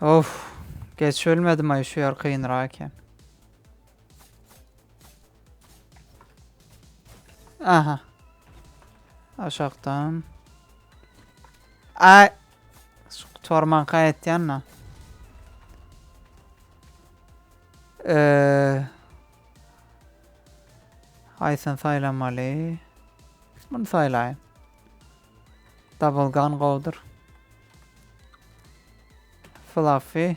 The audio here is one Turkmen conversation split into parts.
Of. Geç ölmedim ay şu yer kıyınra eken. Aha. Aşaktan. Ay. Şu gutarmanka aýtýan da. Eee. Haýsyny saýlamaly? Muny saýlaýyn. Double gun gowdur. Fluffy.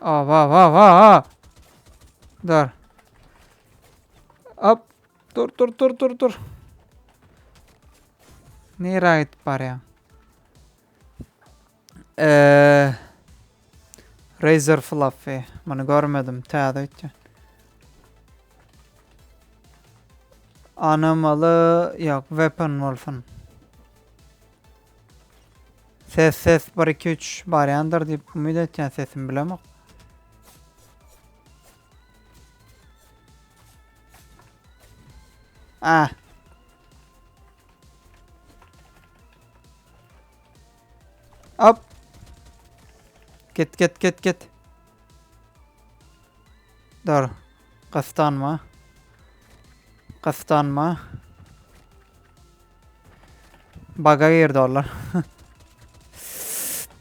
Aa va va va va. Dur. Hop. Dur dur dur dur dur. Nere gidip barýaň? Eee Razer Fluffy. Bunu görmedim. Täze ötken. Anamalı yok Weapon Wolf'un. Ses ses bir iki üç barýandyr diýip umyt etýän sesimi bilemok. Ah. Hop. Git git git git. Dur. Kıstan mı? Kıstan mı? Baga girdi onlar.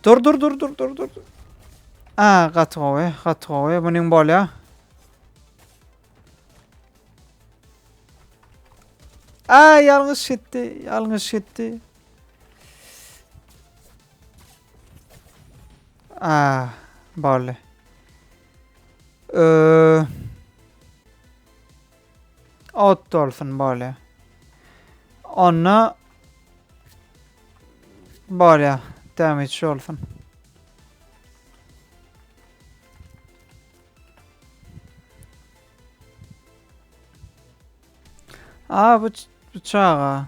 dur dur dur dur dur dur. Aa gaty gowy, gaty gowy. Buning bolýar. Aa yalnız şitti, yalnız şitti. Aa, barley. Ee, Ot dolsun bolya. Onda bolya. Damage dolsun. Aa bu, bu çaga.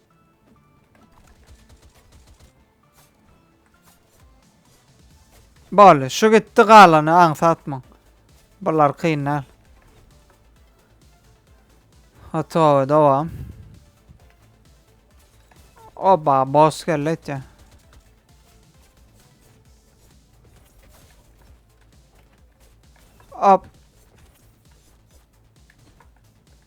Boldy. Şu gitdi galany aňsatmaň. Bular kyn däl. Gotowy dowam. Oba boss geldi etýä. Hop.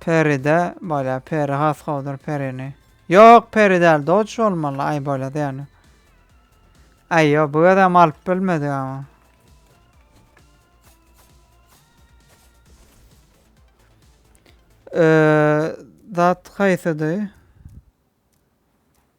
Peride bolýa peri has gowudyr perini. Ýok peri däl dodge bolmaly aý bolýa ýöne. Aý ýok bu gezem alyp bilmedik ama. Eee zat haýsydy?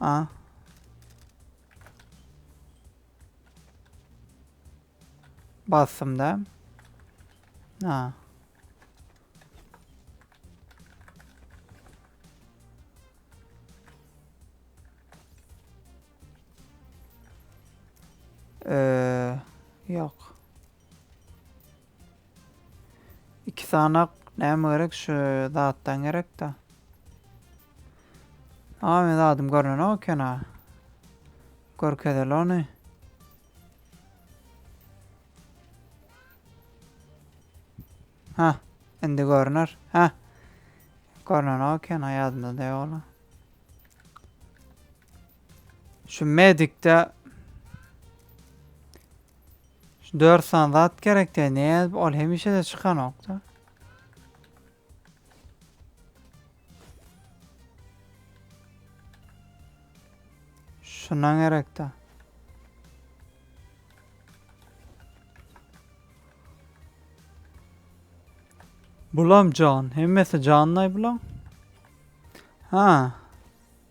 A. Bastım da. A. Ee, yok. İki sanak näme gerek şu zatdan gerek da. Aa men zadım görünen o kena. Görkezeli onu. Ha, indi görüner. Ha. Görünen o kena yadımda da yola. Şu medikte Şu dört san zat gerek diye ne yazıp ol hemişe de çıkanokta. Şundan gerek de. Bulam can. Hemmesi canlay bulam. Ha.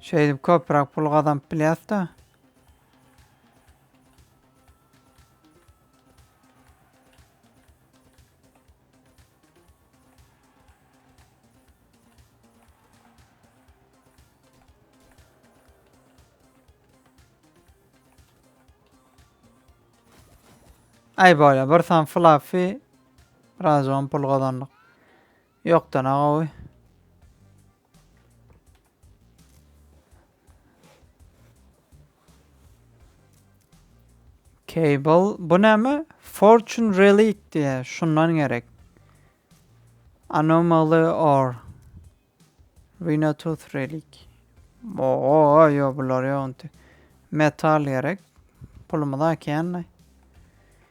Şeýdip köpräk pul gazanyp bilýäs-de. Ay böyle bir san fluffy birazcık pul kazandık. Ýokdan a gowy. Cable. Bu näme? Fortune Relic diýe. Şundan gerek. Anomaly or. Rhinotooth Relic. Oo, yo bular ýok. Metal gerek. Pulumyz akýandy.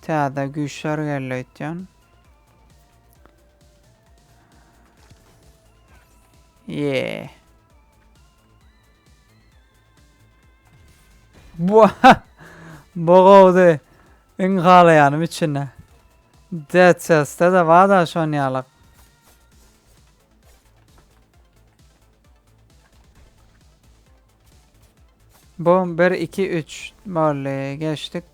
Täze güýçler geldi öýtýän. Ýee. Bu Bu gowdy. Iň halaýanym içinde. Dead Cells-de de bar-da şon ýalak. Bu bir iki üç boldy geçdik.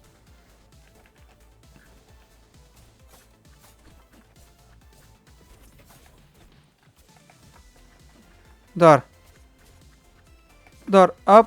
Dur. Dur. Hop.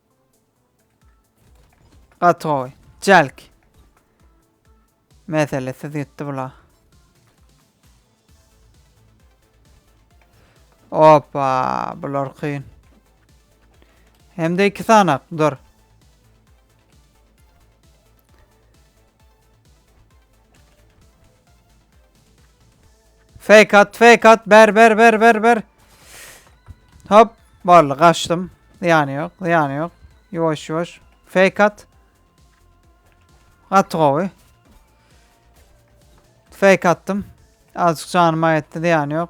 Gaty gowy. Jalk. Meselesiz gitdi bula. Opa, bular kyn. Hem de iki sanak, dur. Fake at, fake at. Ber, ber, ber, ber, ber. Hop. Boldy, kaçtym. Zyýany ýok, zyýany ýok. Ýuwaş, ýuwaş. Fake at. Gaty gowy. Fake attym. Azıcık canım ayetti zyýany ýok.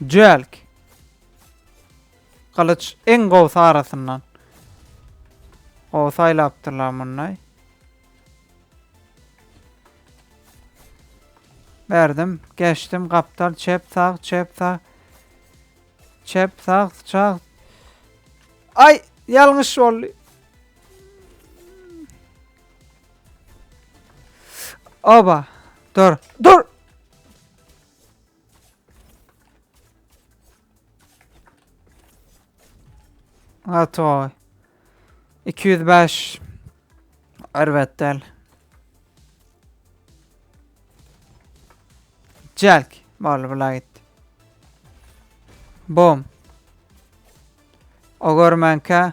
Jölk. Gylyç iň gowsy arasyndan. Gowy saýlapdyrlar munday. Berdim, geçdim, gapdal, çep, sag, çep, sag. Çep, sag, çag. Ay, yalňyş boldy. Oba. Dur. Dur. Atoy. 205. Erbet del. Jack. Bol bula git. Bom. O görmänkä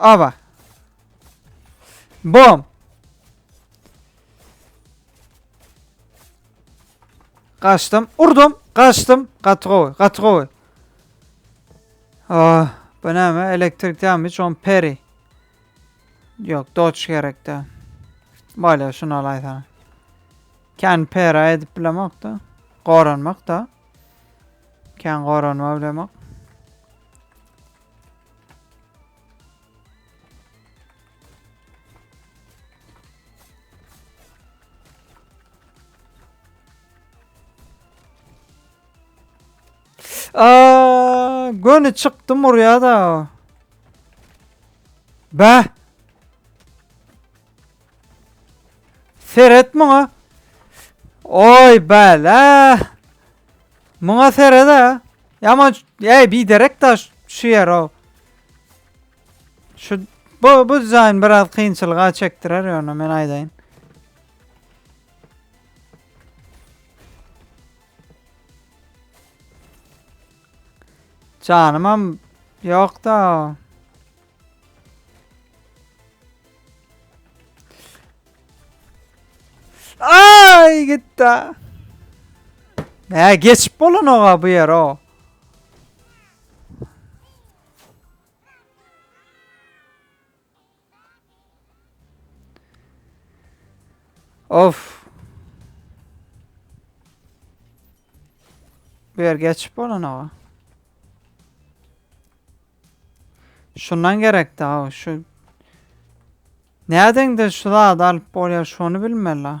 Ava. Bom. Kaçtım. Urdum. Kaçtım. Gaty gowy. Gaty gowy. Ah, bu näme? Elektrik dämi John Perry. Ýok, doç gerekde. Bolýa, şuny alaýsana. Kän pera edip bilemok-da. Goranmak-da. Kän goranma bilemok. Aa, göni çykdy murya da. Be. Seret muňa. Oy bala. Muňa seret ha. Yaman ey bir derek da şu yer o. Şu bu bu dizayn biraz kynçylyga çektirer yani men aydayım. Janymam ýokda. Ay gitti. Ne geçip bolun oğa bu yer o. Of. Bu yer geçip bolan ağa. Şundan gerek daha şu. Nereden de şu zat alıp bolya şunu bilmeli.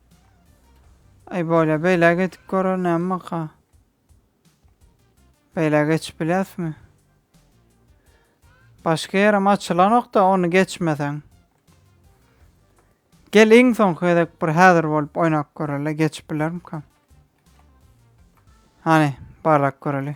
Aý bolýa beýle geçip görer näme baka. Beýle geçip bilýäsmi? Başga ýerem açylanokda ony geçmeseň. Gel iň soňky gezek bir häzir bolup oýnap göreli geçip bilermikam. Hany barlap göreli.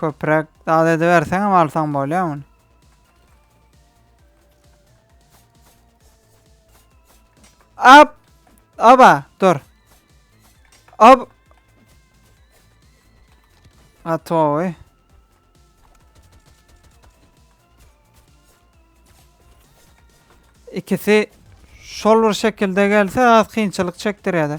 Köpräk dal ediberseň hem alsaň bolýar muny. Ap! Aba, dur. Ab. Atoy. İkisi şol bir şekilde gelse az kynçylyk çekdirýärdi.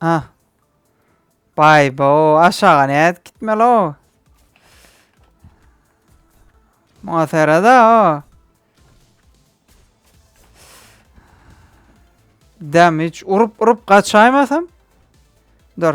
Ha. Bay bo aşağı ne et gitmeli o. Muhasara da o. Dem hiç urup urup kaçaymasam. Dur.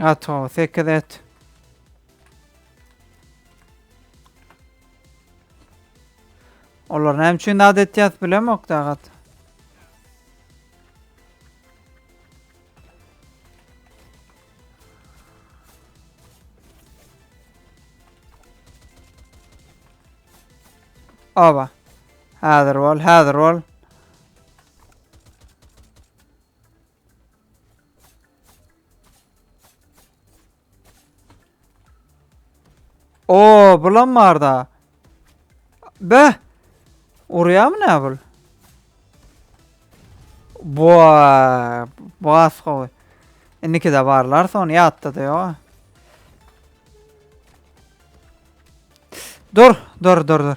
Ato, 8 et. Olar näme üçin dad etýäs bilemok dagat. Aba. Häzir bol, häzir bol. Oo, bulam bar da. Be. Urýamy ne bul? Boa, bas gowy. Indiki de barlar, son ýatda da ýok. Dur, dur, dur, dur.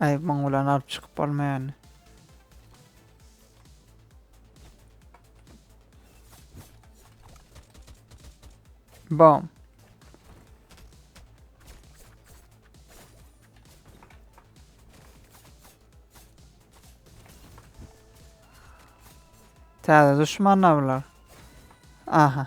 Aý muň bilen alyp çykyp bolmaýany. Bom. Täze düşmanlar bular. Aha.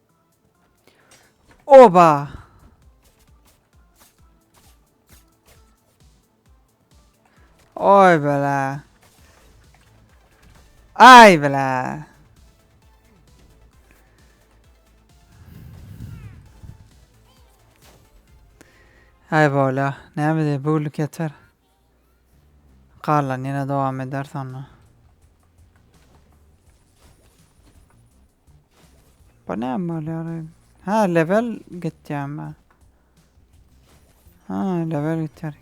Oba! Oý bela. Aý bela. Aý bola. Näme diýip, bu günlük ýeter. Galan ýene dowam eder sonra. Bu näme bolýar? Ha, level gitýärmi? Ha, level gitýär.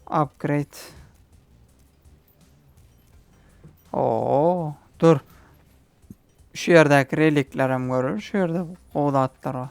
Upgrade. Oo, dur. Şu ýerdäki relikler hem görül. Şu ýerde gowy zatlar bar.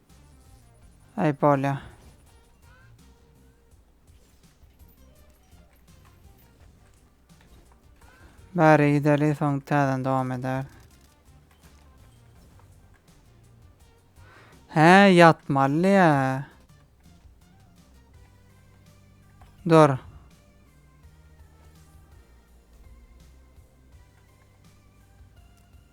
Aý bolýa. Bari gideli soň täzeden dowam eder. He ýatmaly ya. Dur.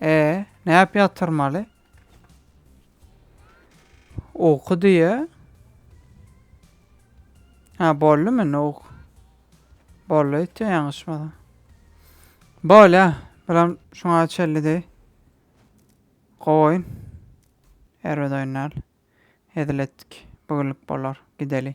E, näp ýatyrmaly? Uky diýe. Ha, bolly mi nuk? Bolly ýetýä ýaňyşmasa. Bolýa, bilen şuňa çelli deý. Goýun. Erbet oýnal. Hezil etdik. Bu günlük bolar. Gideli.